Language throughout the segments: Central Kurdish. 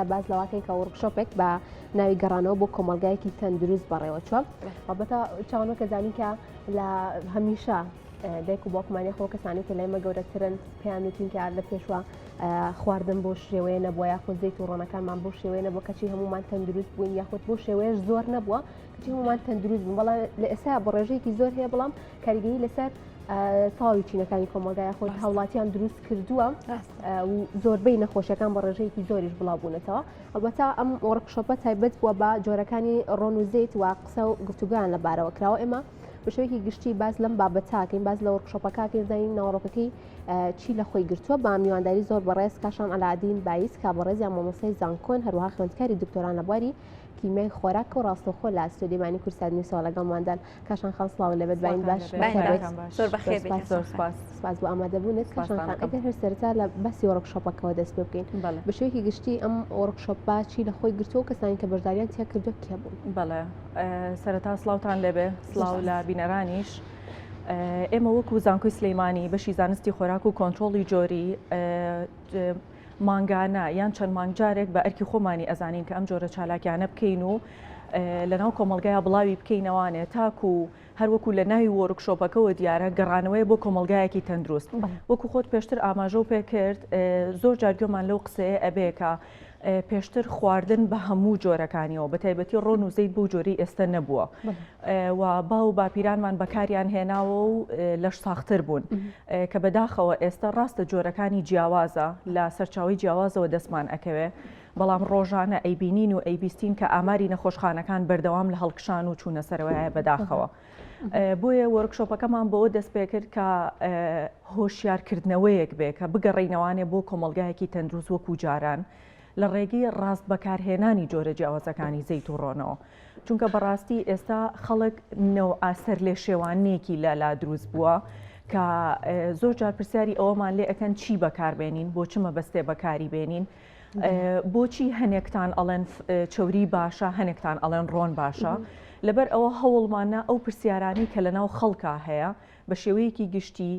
باس لەوەکەین کە وەرکشۆپێک بە ناوی گەڕانەوە بۆ کۆمەلگایەکی تەندروست بەڕێوەچوە بەتە چاوانەوە کە زانی کە لە هەمیشە دایک و باوکمانی خۆ کەسانی کە لای مە گەورەترن پێیان وتینکە لە پێشوە خواردن بۆ شێوەیە نەبووە یاخود زیت و ڕۆنەکانمان بۆ شێوەیە نەبوو کەچی هەمومان تەندروست بووین یاخود بۆ شێوەیەش زۆر نەبووە کەچی هەمومان تەندروست بوو بەڵام لە ئێستا بە ڕێژەیەکی زۆر هەیە بەڵام کاریگەی لەسەر تەواوی چینەکانی کۆمەلگا یاخۆت هاوڵاتیان دروست کردووە و زۆربەی نەخۆشیەکان بە ڕێژەیەکی زۆریش بڵاوبوونەتەوە ئەوەتا ئەم وەڕکشۆپە تایبەت بووە بە جۆرەکانی ڕۆن و زیت و قسە و گفتوگویان لە بارەوە کراوە ئێمە بەشێکی گشتی باز لەم بابەتاکەین باز لە وەرکشۆپەکەکەین زانین ناوەڕۆکەکەی چی لە خۆی گرتووە با میوانداری زۆر بەڕێز کاشان ئەلادین بایس کا بەڕێزیان مامۆسای زانکۆن هەروها خوێندکاری دکتۆران لە بواری کیمیای خۆراک و ڕاستەخۆ لە ئەستۆدیمانی کورسانی ساڵەکەماندان کاشان خان سڵاو لەبێت باین باش سپاس بۆ ئامادەبوونت کاشان خان ئەگەر هەر سەرتا لە باسی وەرەکشۆپەکەەوە دەست پێ بکەین بە شوێکی گشتی ئەم وەرەکشۆپ باچی لە خۆی گرتو و کەسانی کە بەشداریان تیا کردو کێ بوون بەڵێ سەرتا سلااوان لەبێ سلااو لە بینەرانیش. ئێمە وەکو زانکۆی سلەیمانی بەشی زانستی خۆراک و کۆنتترۆڵی جۆری مانگانە یان چەند مانگ جارێک بە ئەرکی خۆمانی ئەزانین کە ئەم جۆرە چالاکیانە بکەین و لەناو کۆمەلگای بڵاوی بکەینەوانێ تاکو هەروەکو لە ناوی وۆرک شۆپەکەەوە دیارە گەڕانەوەی بۆ کۆمەلگایەکی تەندروست وەکو خۆت پێشتر ئاماژە و پێکرد زۆر جارگوێمان لەو قسەیە ئەبێکە پێشتر خواردن بە هەموو جۆرەکانیەوە بە تایبەتی ڕۆن و زەیت بۆ جۆری ئێستا نەبووە و باو و باپیرانمان بەکاریان هێناوە و لەش ساختر بوون کە بەداخەوە ئێستا ڕاستە جۆرەکانی جیاوازە لە سەرچاوی جیاوازەوە دەستمان ئەکەوێ بەڵام ڕۆژانە ئەیبینین و ئەیبیستین کە ئاماری نەخۆشخانەکان بەردەوام لە هەڵکشان و چوونە سەرەوەیە بەداخەوە بۆیە وەرکشۆپەکەمان بەوە دەست پێ کرد کە هۆشیارکردنەوەیەک بێ کە بگەڕینەوانێ بۆ کۆمەلگایەکی تەندروست وەکو جاران لە ڕێگەی ڕاست بەکارهێنانی جۆرە جیاوازەکانی زەیت و ڕۆنەوە. چونکە بەڕاستی ئێستا خەڵک نەوعە سەرلێشێوانەیەکی لە لا دروست بووە کە زۆر جار پرسیاری ئەوەمان لێ ئەەکەن چی بەکاربێنین بۆ چمە بەستێ بەکاری بێنین بۆچی هەنێکتان ئەڵێن چوری باشە هەنێکتان ئەڵێن ڕۆن باشە لەبەر ئەوە هەوڵمانە ئەو پرسیارانی کە لەناو خەڵکا هەیە بە شێوەیەکی گشتی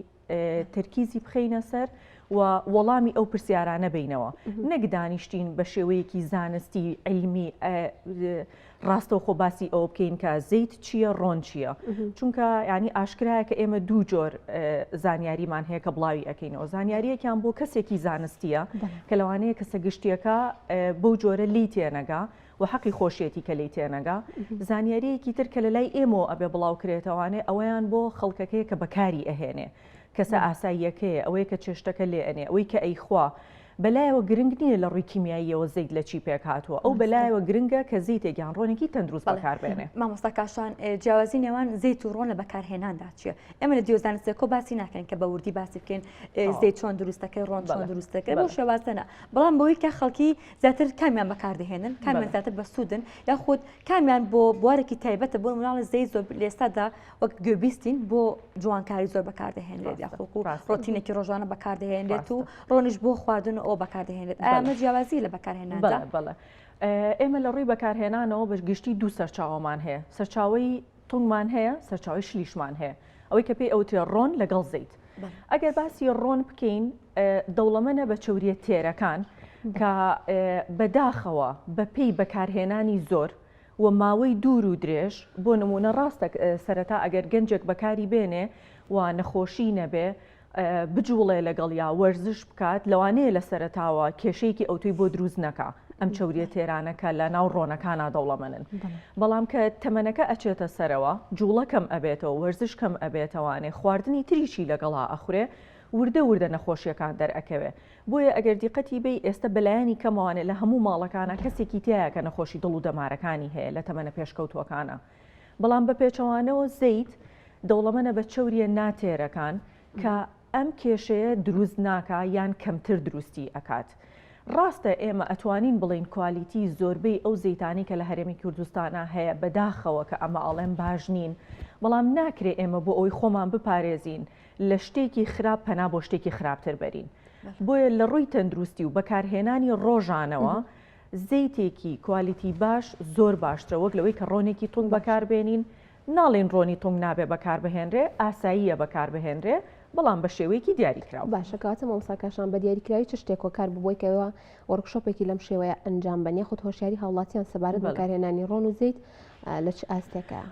تەرکیزی بخەینە سەر و وەڵامی ئەو پرسیارانە بینەوە نەک دانیشتین بە شێوەیەکی زانستی علمی ڕاستەوخۆ باسی ئەو بکەین کە زیت چییە ڕۆن چییە چونکە ینی ئاشکرایە کە ئێمە دوو جۆر زانیاریمان هەیە کە بڵاوی ئەەکەینەوە زانیاریەکیان بۆ کەسێکی زانستیە کە لەوانەیە کەسە گشتیەکە بەو جۆرە لی تێنەگا و حەقی خۆشیەتی کە لێی تێنەگا. زانیاریەکی تر کە لە لای ئێمەوە ئەبێ بڵاوکرێتەوانێ ئەوەیان بۆ خەڵکەکەیە کە بەکاری ئەهێنێ، کەسە ئاساییەکەیە، ئەوەیە کە چێشتەکە لێ ئەنێ، ئەوەی کە ئەیخوا، بە لایەوە گرنگ نیە لە ڕووی کیمیاییەوە زەیت لە چی پێک هاتووە، ئەو بە لایەوە گرنگە کە زەیتێک یان ڕۆنێکی تەندروست بەکار بێنێ. مامۆستا کاشان جیاوازی نێوان زەیت و ڕۆن لە بەکارهێناندا چیە؟ ئێمە لە دیۆ زانست ئێکۆ باسی ناکەین کە بە وردی باسی بکەین زەیت چۆن دروست دەکەی ڕۆن چۆن دروست دەکەی بەو شێوازە نا، بەڵام بەوەی کە خەڵکی زیاتر کامیان بەکاردەهێنن کامیان زیاتر بە سوودن یاخود کامیان بۆ بوارێکی تایبەتە بۆ مناڵە زەی زۆر لێستادا وەک گوێبیستین بۆ جوانکاری زۆر بەکاردەهێنێت یاخۆکو ڕۆتینێکی ڕۆژانە بەکاردەهێنێت و ڕۆنیش بۆ خواردن ئەو بەکاردەهێنێت ئەمە جیاوازی لە بەکارهێنان بەڵێ ئێمە لە ڕووی بەکارهێنانەوە بە گشتی دوو سەرچاومان هەیە سەرچاوی تونگمان هەیە سەرچاوەی شلیشمان هەیە ئەوەی کە پێی ئەوتێ ڕۆن لەگەڵ زەیت ئەگەر باسی ڕۆن بکەین دەوڵەمەە بە چوریە تێرەکان کە بەداخەوە بەپی بەکارهێنانی زۆر و ماوەی دوور و درێژ بۆ نمونە ڕاستە سەرەتا ئەگەر گەنجێک بەکاری بێنێ و نەخۆشی نەبێ بجوڵێ لەگەڵیا وەرزش بکات لەوانەیە لە سەرەتاوە کێشەیەکی ئەوتوی بۆ دروست نەکا ئەم چوریە تێرانەکە لە ناو ڕۆنەکانە دەوڵەمەنن بەڵام کە تەمەنەکە ئەچێتە سەرەوە جوڵەکەم ئەبێتەوە وەرزشکەم ئەبێتەوانێ خواردنی تریشی لەگەڵا ئەخورێ وردە وردە نەخۆشیەکان دەرەکەوێ بۆیە ئەگەر دیقەتی بی ئێستا بەلایانی کەمەوانێ لە هەموو ماڵەکانە کەسێکی تایە کە نەخۆشی دڵ و دەمارەکانی هەیە لە تەمەە پێشکەوتوەکانە بەڵام بە پێچەوانەوە زەیت دەوڵەمەنە بە چەورییە ناتێرەکان کە ئەم کێشەیە دروست ناکا یان کەمتر دروستی ئەکات. ڕاستە ئێمە ئەتوانین بڵێین کوالیتی زۆربەی ئەو زەیتانەی کە لە هەرێمی کوردستانا هەیە بەداخەوە کە ئەمە ئەڵێم باش نین، بەڵام ناکرێ ئێمە بۆ ئەوەی خۆمان بپارێزین لە شتێکی خراپ پەنا بۆ شتێکی خراپتر بەرین. بۆیە لە ڕووی تەندروستی و بەکارهێنانی ڕۆژانەوە زەیتێکی کوالیتی باش زۆر باشترە وەک لەوەی کە ڕۆنێکی تونگ بەکار بێنین، ناڵێین ڕۆنی تونگ نابێ بەکار بهێنرێ، ئاساییە بەکار بهێنرێ بەڵام بە شێوەیەکی دیاری کراو. باشە کەواتە مامۆستا کاشان بە دیاری کراوی چ شتێک هۆکار ببووە کە ئێوە وۆرکشۆپێکی لەم شێوەیە ئەنجام بەن یاخود هۆشیاری هاوڵاتیان سەبارەت بە بەڵێ. بەکارهێنانی ڕۆن و زەیت لە چ ئاستێکە؟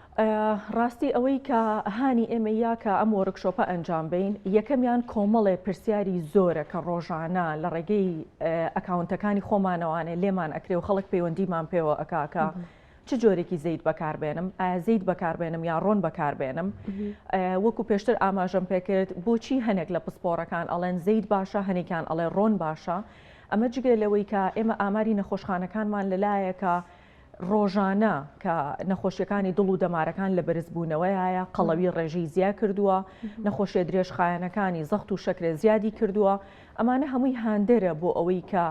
ڕاستی ئەوەی کە هانی ئێمە یا کە ئەم وەرکشۆپە ئەنجام بین یەکەمیان کۆمەڵێ پرسیاری زۆرە کە ڕۆژانە لە ڕێگەی ئەکاونتەکانی خۆمانەوانێ لێمان ئەکرێ و خەڵک پەیوەندیمان پێوە ئەکاکە چ جۆرێکی زەیت بەکاربێنم ئایا زەیت بەکاربێنم یا ڕۆن بەکاربێنم وەکو پێشتر ئاماژەم پێکرد بۆچی هەنێک لە پسپۆڕەکان ئەڵێن زەیت باشە هەنێکیان ئەڵێ ڕۆن باشە ئەمە جگە لەوەی کە ئێمە ئاماری نەخۆشخانەکانمان لەلایەکە ڕۆژانە کە نەخۆشیەکانی دڵ و دەمارەکان لە بەرزبوونەوەیە قەڵەوی ڕێژەی زیاد کردووە نەخۆشیە درێژخایەنەکانی زەخت و شەکرە زیادی کردووە ئەمانە هەمووی هاندەرە بۆ ئەوەی کە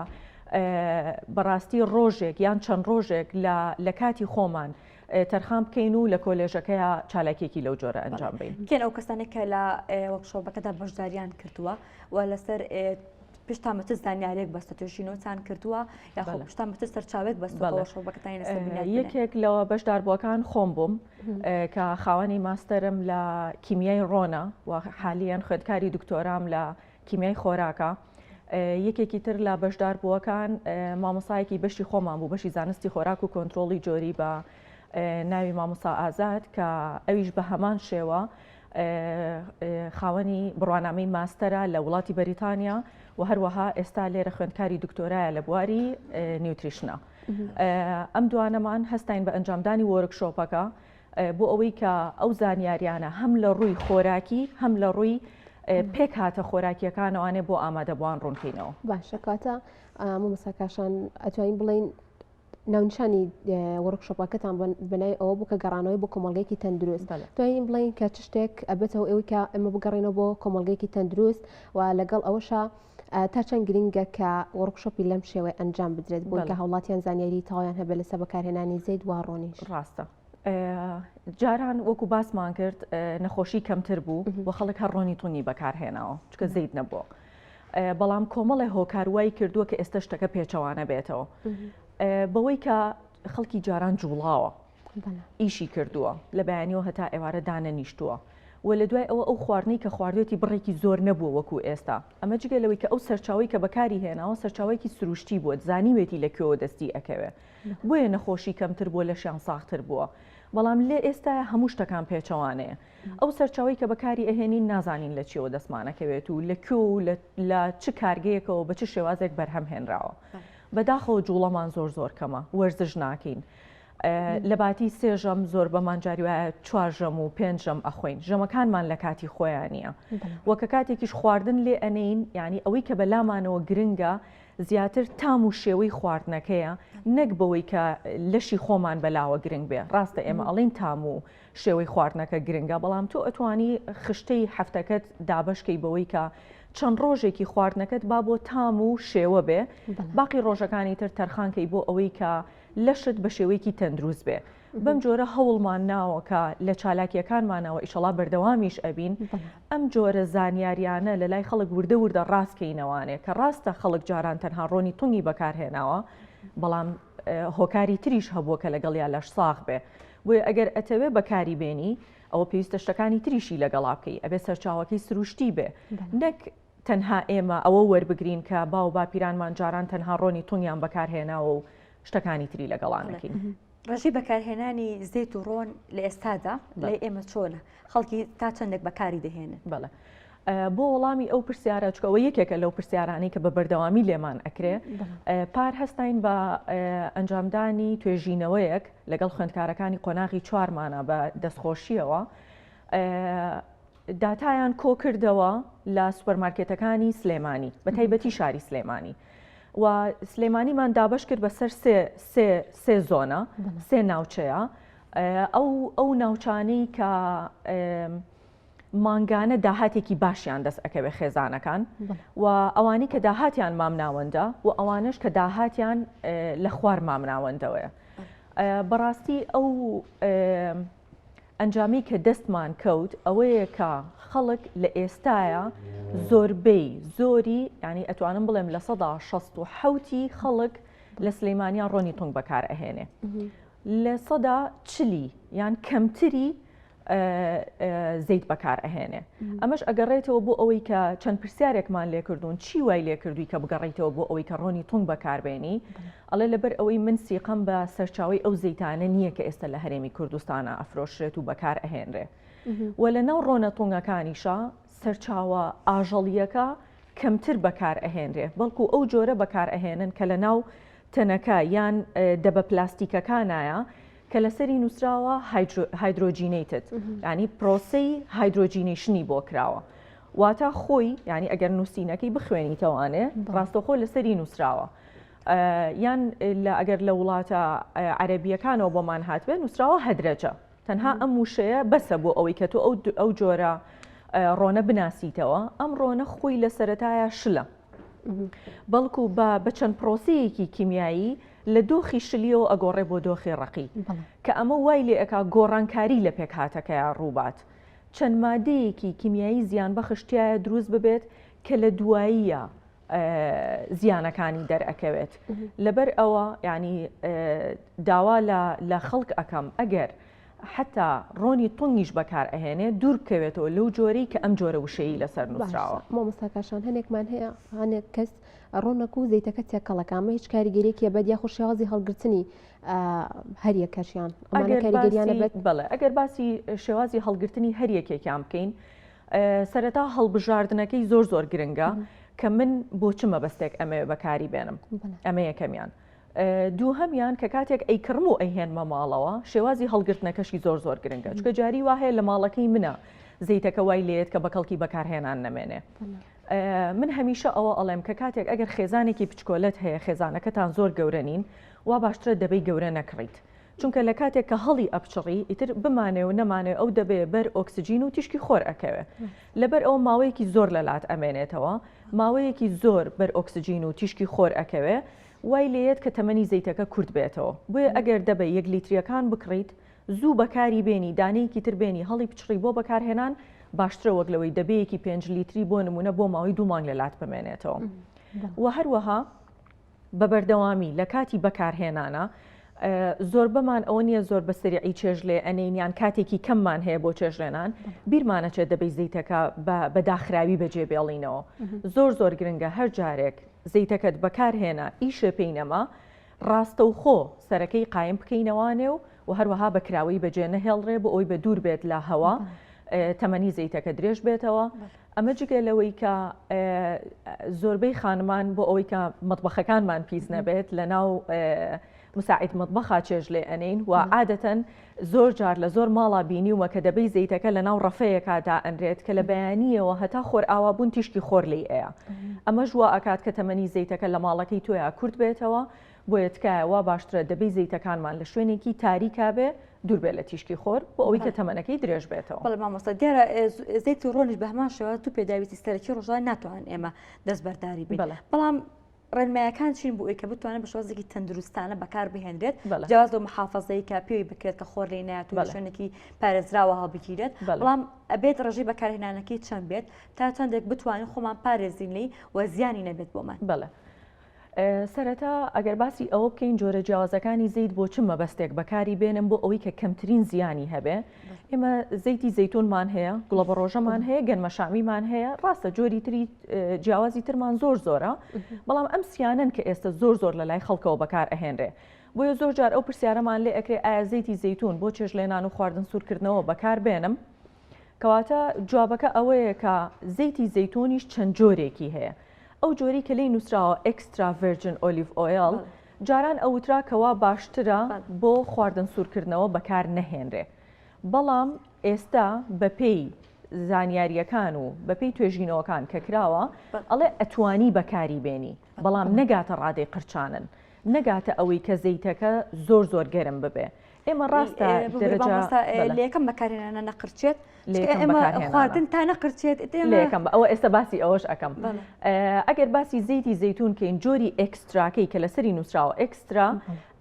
بەڕاستی ڕۆژێک یان چەند ڕۆژێک لە کاتی خۆمان تەرخان بکەین و لە کۆلێژەکەیە چالاکێکی لەو جۆرە ئەنجام بین کێن ئەو کەسانێک کە لە وەکشۆبەکەدا بەشداریان کردووە و لەسەر پشتان بە چ زانیارێک بەستە توێژینەوەتان کردووە یاخۆ پشتان بە چ سەرچاوێک بەستەوە شەڵبەکەتان لەسەر بنیاد بنێن؟ یەکێک لەوە بەشداربووەکان خۆم بووم کە خاوەنی ماستەرم لە کیمیای ڕۆنە و حالیان خوێندکاری دکتۆرام لە کیمیای خۆراکە یەکێکی تر لە بەشدار بووەکان مامۆسایەکی بەشی خۆمان بوو بەشی زانستی خۆراک و کۆنتترۆڵی جۆری بە ناوی مامۆسا ئازاد کە ئەویش بە هەمان شێوە خاوەنی بڕوانامەی ماستەرە لە وڵاتی بەریتانیا و هەروەها ئێستا لێرە خوێندکاری دکتۆرایە لە بواری نیوتریشنە ئەم دوانەمان هەستین بە ئەنجامدانی وۆرکشۆپەکە بۆ ئەوەی کە ئەو زانیاریانە هەم لە ڕووی خۆراکی هەم لە ڕووی پێک هاتە خۆراکیەکانەوانێ بۆ ئامادەبووان ڕوونکەینەوە باشەکاتە مەساکاشان ئەتوانین بڵین ناونیشانی وەرکشۆپەکەتان بەناوی ئەوە بوو کە گەڕانەوەی بۆ کۆمەلگەیەکی تەندروست توانین بڵین کە چ شتێک ئەبێتەوە ئەوی کە ئەمە بگەڕێنەوە بۆ کۆمەلگەیەکی تەندروست و لەگەڵ ئەوەشە تا چەند گرنگە کە وەرکشۆپی لەم شێوەی ئەنجام بدرێت بۆ کە هەوڵاتیان زانیاری تاوایان هەبێ لەسە بەکارهێنانی زەید وا ڕۆنی ڕاستە. جاران وەکو باسمان کرد نەخۆشی کەمتر بوو و خەڵک هەر ڕۆنی تونی بەکارهێناوە چکە زەیت نەبووە. بەڵام کۆمەڵێ هۆکار وای کردووە کە ئێستا شتەکە پێچەوانە بێتەوە بەوەی کە خەڵکی جاران جوڵاوە ئیشی کردووە لە بەیانیەوە هەتا ئێوارە دانەنیشتووە و لە دوای ئەوە ئەو خواردنەی کە خواردێتی بڕێکی زۆر نەبووە وەکو ئێستا ئەمە جگە لەوەی کە ئەو سەرچاوی کە بەکاری هێناوە سەرچاوێکی سروشتی بووە زانیوێتی لە کوێوە دەستی ئەکەوێ بۆیە نەخۆشی کەمتر بووە لەشیان ساختر بووە بەڵام لێ ئێستا هەموو شتەکان پێچەوانەیە ئەو سەرچاوەی کە بەکاری ئەهێنین نازانین لە چیەوە دەستمانەکەوێت و لە کوێ و لە چ کارگەیەکەوە بە چ شێوازێک بەرهەم هێنراوە بەداخەوە جوڵەمان زۆر زۆر کەمە وەرزش ناکەین. لە باتی سێژەم زۆر بەمان جاری وایە چوار ژەم و پێنج ژەم ئەخۆین ژەمەکانمان لە کاتی خۆیان نییە وەکە کاتێکیش خواردن لێ ئەنین ینی ئەوەی کە بەلامانەوە گرنگە زیاتر تام و شێوەی خواردنەکەیە نەک بەوەی کە لەشی خۆمان بەلاوە گرنگ بێ ڕاستە ئێمە ئەڵین تام و شێوەی خواردنەکە گرنگە، بەڵام تۆ ئەتوانی خشتەی هەفتەکەت دابەش کەی بەوەی کە چەند ڕۆژێکی خواردنەکەت با بۆ تام و شێوە بێ باقی ڕۆژەکانی تر تەرخانکەی بۆ ئەوەی کە لەشت بە شێوەیەکی تەندروست بێ بەم جۆرە هەوڵمان ناوەکە لە چالاکیەکانمانەوە ئیشەڵا بەردەوامیش ئەبین ئەم جۆرە زانیاریانە لە لای خەڵک وردە وردە ڕاستکەینەوانێ کە ڕاستە خەڵک جاران تەنها ڕۆنی تونی بەکارهێناوە بەڵام هۆکاری تریش هەبووە کە لەگەڵیا لەش ساغ بێ بۆیە ئەگەر ئەتەوێ بەکاری بێنی ئەوە پێویستە شتەکانی تریشی لەگەڵا بکەی ئەبێ سەرچاوەکەی سروشتی بێ نەک تەنها ئێمە ئەوە وەربگرین کە باو باپیرانمان جاران تەنها ڕۆنی تونگیان بەکارهێناوە و شتەکانی تری لەگەڵانەکەین. ڕژی بەکارهێنانی زیت و ڕۆن لە ئێستادا لای ئێمە چۆنە؟ خەڵکی تا چەندێک بەکاری دەهێنن؟ بەڵێ بۆ وەڵامی ئەو پرسیارە چکەوە یەکێکە لەو پرسیارانەی کە بە بەردەوامی لێمان ئەکرێ پار هەستین بە ئەنجامدانی توێژینەوەیەک لەگەڵ خوێندکارەکانی قۆناغی چوارمانە بە دەستخۆشیەوە داتایان کۆکردەوە لە سوپەرمارکێتەکانی سلێمانی بە تایبەتی شاری سلێمانی و سلێمانیمان دابش کرد بەسەر سێ زۆنە سێ ناوچەیە ئەو ئەو ناوچانەی کە مانگانە داهاتێکی باشیان دەست ئەکەوێت خێزانەکان و ئەوانی کە داهاتیان مامناوەندە و ئەوانش کە داهاتیان لە خوار مامناوەندەوەیە بەڕاستی ئەو ئەنجامی کە دەستمان کەوت ئەوەیە کە خەڵک لە ئێستاە زۆربەی زۆری ینی ئەتوانم بڵێم لە سەدا 16 حوتی خەڵک لە سلەیمانیا ڕۆنی تونگ بەکار ئەهێنێ لە سەدا چلی یان کەمتری زەیت بەکار ئەهێنێ ئەمەش ئەگەڕێتەوە بۆ ئەوەی کە چەند پرسیارێکمان لێکردوون چی وای لێکردووی کە بگەڕیتەوە بۆ ئەوەی کە ڕۆنی تونگ بەکاربێنی ئەڵێ لەبەر ئەوەی من سیقەم بە سەرچاوی ئەو زەیتانە نییە کە ئێستا لە هەرێمی کوردستانە ئەفرۆشرێت و بەکار ئەهێنرێ و لە ناو ڕۆنە تونگەکانیشە سەرچاوە ئاژەڵییەکە کەمتر بەکار ئەهێنرێ بەڵکو ئەو جۆرە بەکار ئەهێنن کە لە ناو تەنەکە یان دەبە پلاستیکەکانایە کە لەسەری نووسراوە هایدرۆجینیتت ینی پرۆسی هایدرۆجینیشنی بۆ کراوە واتا خۆی ینی ئەگەر نووسینەکەی بخوێنیتەوانێ ڕاستەخۆ لەسەری نووسراوە یان لە ئەگەر لە وڵاتە عەربیەکانەوە بۆمان هاتبێ نووسراوە هەدرەجە تەنها ئەم وشەیە بەسە بۆ ئەوەی کە تۆ ئەو ئەو جۆرە ڕۆنە بناسیتەوە ئەم ڕۆنە خۆی لە سەتایە شلە بەڵکو بە بە چەند پرۆسیەکی کیمیایی لە دۆخی شلیەوە ئەگۆڕێ بۆ دۆخی ڕقی کە ئەمە وای لێ ئەک گۆڕانکاری لە پێکهاتەکەیان ڕووبات چەند مادەیەکی کیمیایی زیان بەخشتایە دروست ببێت کە لە دواییە زیانەکانی دەرئەکەوێت لەبەر ئەوە ینی داوا لە خەڵک ئەەکەم ئەگەر حتا ڕۆنی تونگیش بەکار ئەهێنێ دوور بکەوێتەوە لەو جۆرەی کە ئەم جۆرە وشەیە لەسەر نووسراوە مۆمەستاکەشان هەنێکمان هەیە هەنێک کەس ڕۆنەک و زیتەکە تێکەڵەکەمە هیچ کاریگەرێکی بەد یا خوشیاوازی هەڵگرتنی هەریەکەشیان ئەگەر باسی هەڵگرتنی هەریەکێکیان بکەین سەرەتا هەڵبژاردنەکەی زۆر زۆر گرنگە کە من بۆ چ مەبەستێک ئەمەوێ بەکاری بێنم ئەمە یەکەمیان دوو هەمیان کە کاتێک ئەیکڕم و ئەیهێنمە ماڵەوە شێوازی هەڵگرتنەکەشی زۆر زۆر گرنگە چکە جاری وهەیە لە ماڵەکەی منە زیتەکە وای لێت کە بە کەڵکی بەکارهێنان نەمێنێ من هەمیشە ئەوە ئەڵێم کە کاتێک ئەگەر خێزانێکی پچکۆلت هەیە خێزانەکەتان زۆر گەورە نین وا باشترە دەبی گەورە نەکڕیت چونکە لە کاتێک کە هەڵی ئەپچڕی ئیتر بمانێ و نەمانێ ئەو دەبێ بەر ئۆکسجین و تیشکی خۆر ئەکەوێ لەبەر ئەو ماوەیەکی زۆر لە لات ئەمێنێتەوە ماوەیەکی زۆر بەر ئۆکسجین و تیشکی خۆر ئەکەوێ وای لێت کە تەمەنی زەیتەکە کورت بێتەوە بۆیە ئەگەر دەبێ یەک لیتریەکان بکڕیت زوو بەکاری بێنی دانەیەکی تر بێنی هەڵی پچڕی بۆ بەکارهێنان باشترە وەک لەوەی دەبەیەکی پێنج لیتری بۆ نمونە بۆ ماوەی دوو مانگ لە لات بمێنێتەوە و هەروەها بە بەردەوامی لە کاتی بەکارهێنانا زۆربەمان ئەوە نییە زۆر بە سریعی چێژ لێ ئەنین یان کاتێکی کەممان هەیە بۆ چێژلێنان بیرمانەچێت دەبی زیتەکە بە داخراوی بەجێ بێڵینەوە زۆر زۆر گرنگە هەر جارێک زیتەکەت بەکارهێنا ئیشێ پێی نەما ڕاستەوخۆ سەرەکەی قایم بکەینەوانێ و و هەروەها بەکراوەی بەجێ نەهێڵڕێ بۆ ئەوی بە دوور بێت لە هەوا تەمەنی زیتەکە درێژ بێتەوە ئەمە جگە لەوەی کە زۆربەی خانمان بۆ ئەوەی کە مەطبەخەکانمان پیس نەبێت لە ناو مساعید مطبخا چێژ لێ ئەنین و عادەتەن زۆر جار لە زۆر ماڵا بینیومە کە دەبەی زەیتەکە لە ناو ڕەفەیەکدا ئەنرێت کە لە بەیانیەوە هەتا خۆر ئاوا بوون تیشکی خۆر لی ئەیە ئەمە ژوە ئەکات کە تەمەنی زەیتەکە لە ماڵەکەی تۆیا کورت بێتەوە و بۆیە تکایە وا باشترە دەبێ زەیتەکانمان لە شوێنێکی تاریکا بێ دوور بێ لە تیشکی خۆر بۆ ئەوەی کە تەمەنەکەی درێژ بێتەوە. بەڵێ مامۆستا دیارە زەیتی ڕۆنیش بە هەمان شێوە دوو پێداویستی سەرەکی ڕۆژانە ناتوانن ئێمە دەستبەرداری بین بەڵێ بەڵام ڕێنمایەکان چین بۆ ئەوی کە بتوانێت بە شێوازێکی تەندروستانە بەکار بهێنرێت بەڵێ جیاواز لەو محافەزەی کە پێوی بکرێت کە خۆر لێی نایەت و لە بەڵێ شوێنێکی پارێزراوە هەڵبگیرێت بەڵێ بەڵام ئەبێت ڕێژەی بەکارهێنانەکەی چەند بێت تا چەندێک بتوانین خۆمان پارێزین لێی و زیانی نەبێت بۆمان. بەڵێ سەرەتا ئەگەر باسی ئەوە بکەین جۆرە جیاوازەکانی زەیت بۆ چ مەبەستێک بەکاری بێنم بۆ ئەوەی کە کەمترین زیانی هەبێ ئێمە زەیتی زەیتونمان هەیە گوڵە بە ڕۆژەمان هەیە گەنمەشامیمان هەیە ڕاستە جۆری تری جیاوازی ترمان زۆر زۆرە بەڵام ئەم سیانن کە ئێستا زۆر زۆر لە لای خەڵکەوە بەکار ئەهێنرێ بۆیە زۆر جار ئەو پرسیارەمان لێ ئەکرێ ئایا زەیتی زەیتون بۆ چێژ لێنان و خواردن سوورکردنەوە بەکار بێنم کەواتە جوابەکە ئەوەیە کە زەیتی زەیتۆنیش چەند جۆرێکی هەیە ئەو جۆری کە لی نووسراوە ئەکسترا ڤێرجن ئۆلیڤ ئۆیل جاران ئەوترا کەوا باشترە بۆ خواردن سوورکردنەوە بەکار نەهێنرێ بەڵام ئێستا بەپێی زانیاریەکان و بەپی توێژینەوەکان کە کراوە ئەڵێ ئەتوانی بەکاری بێنی بەڵام نەگاتە ڕادەی قرچانن نەگاتە ئەوەی کە زەیتەکە زۆر زۆر گەرم ببێ ئێمە ڕاستە لەکەم بەکارێنانە نەقرچێت خواردن تا نەقرچێت لەکەم ئەوە ئێستا باسی ئەوەش ئەەکەم ئەگەر باسی زەیتی زەتون کەین جۆری ئەکستراکەی کە لەسەری نووسراوە ئەکسترا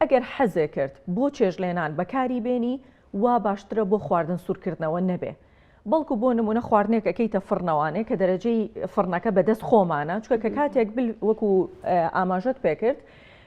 ئەگەر حەزێ کرد بۆ چێژلێنان بەکاری بێنی وا باشترە بۆ خواردن سوورکردنەوە نەبێ بەڵکو بۆ نمونە خواردنێک ئەکەیتە فڕنەوانێ کە دەرەجەی فڕنەکە بەدەست خۆمانە چکە کە کاتێک وەکو ئاماژەت پێکرد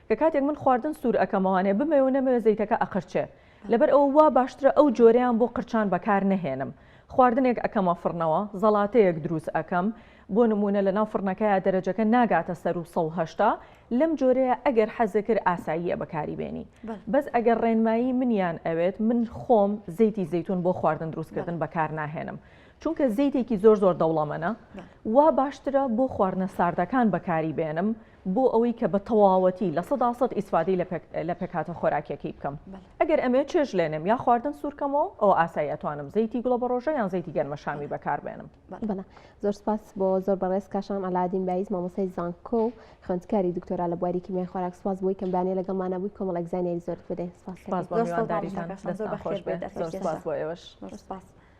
کە کاتێک من خواردن سوور ئەەکەمەوانێ بمەوێ و نەمەوێ زەیتەکە ئەقرچێ لەبەر ئەو وا باشترە ئەو جۆریان بۆ قرچان بەکار نەهێنم خواردنێک ئەەکەمە فڕنەوە زەڵاتەیەک دروست ئەەکەم بۆ نموونە لەناو فڕنەکەیا دەرەجەکە ناگاتە سەروو سەد و هەشتا لەم جۆرەیە ئەگەر حەزت کرد ئاساییە بەکاری بێنی بەس ئەگەر ڕێنمایی منیان ئەوێت من خۆم زەیتی زەیتون بۆ خواردن دروستکردن بەکار ناهێنم چونکە زەیتێکی زۆر زۆر دەوڵەمەنە وا باشترە بۆ خواردنە ساردەکان بەکاری بێنم بۆ ئەوەی کە بە تەواوەتی لە سەدا سەد ئیسفادی لە پێکاتە خۆراکیەکەی بکەم ئەگەر ئەمێ چێژ لێنم یا خواردن سوورکەمەوە ئەو ئاسایی ئەتوانم زەیتی گوڵە بە ڕۆژە یان زەیتی گەرمەشامی بەکار بێنم بەڵێ زۆر سپاس بۆ زۆر بەڕێز کاشان ئەلادین بایز مامۆسای زانکۆ و خوندکاری دکتۆرا لە بواری کیمیای خۆراک سپاس بۆی کەم بانێ لەگەڵمانە بووی کۆمەڵ ئەگزانیای زۆرت بدەین سپاس بۆ ئێوەش.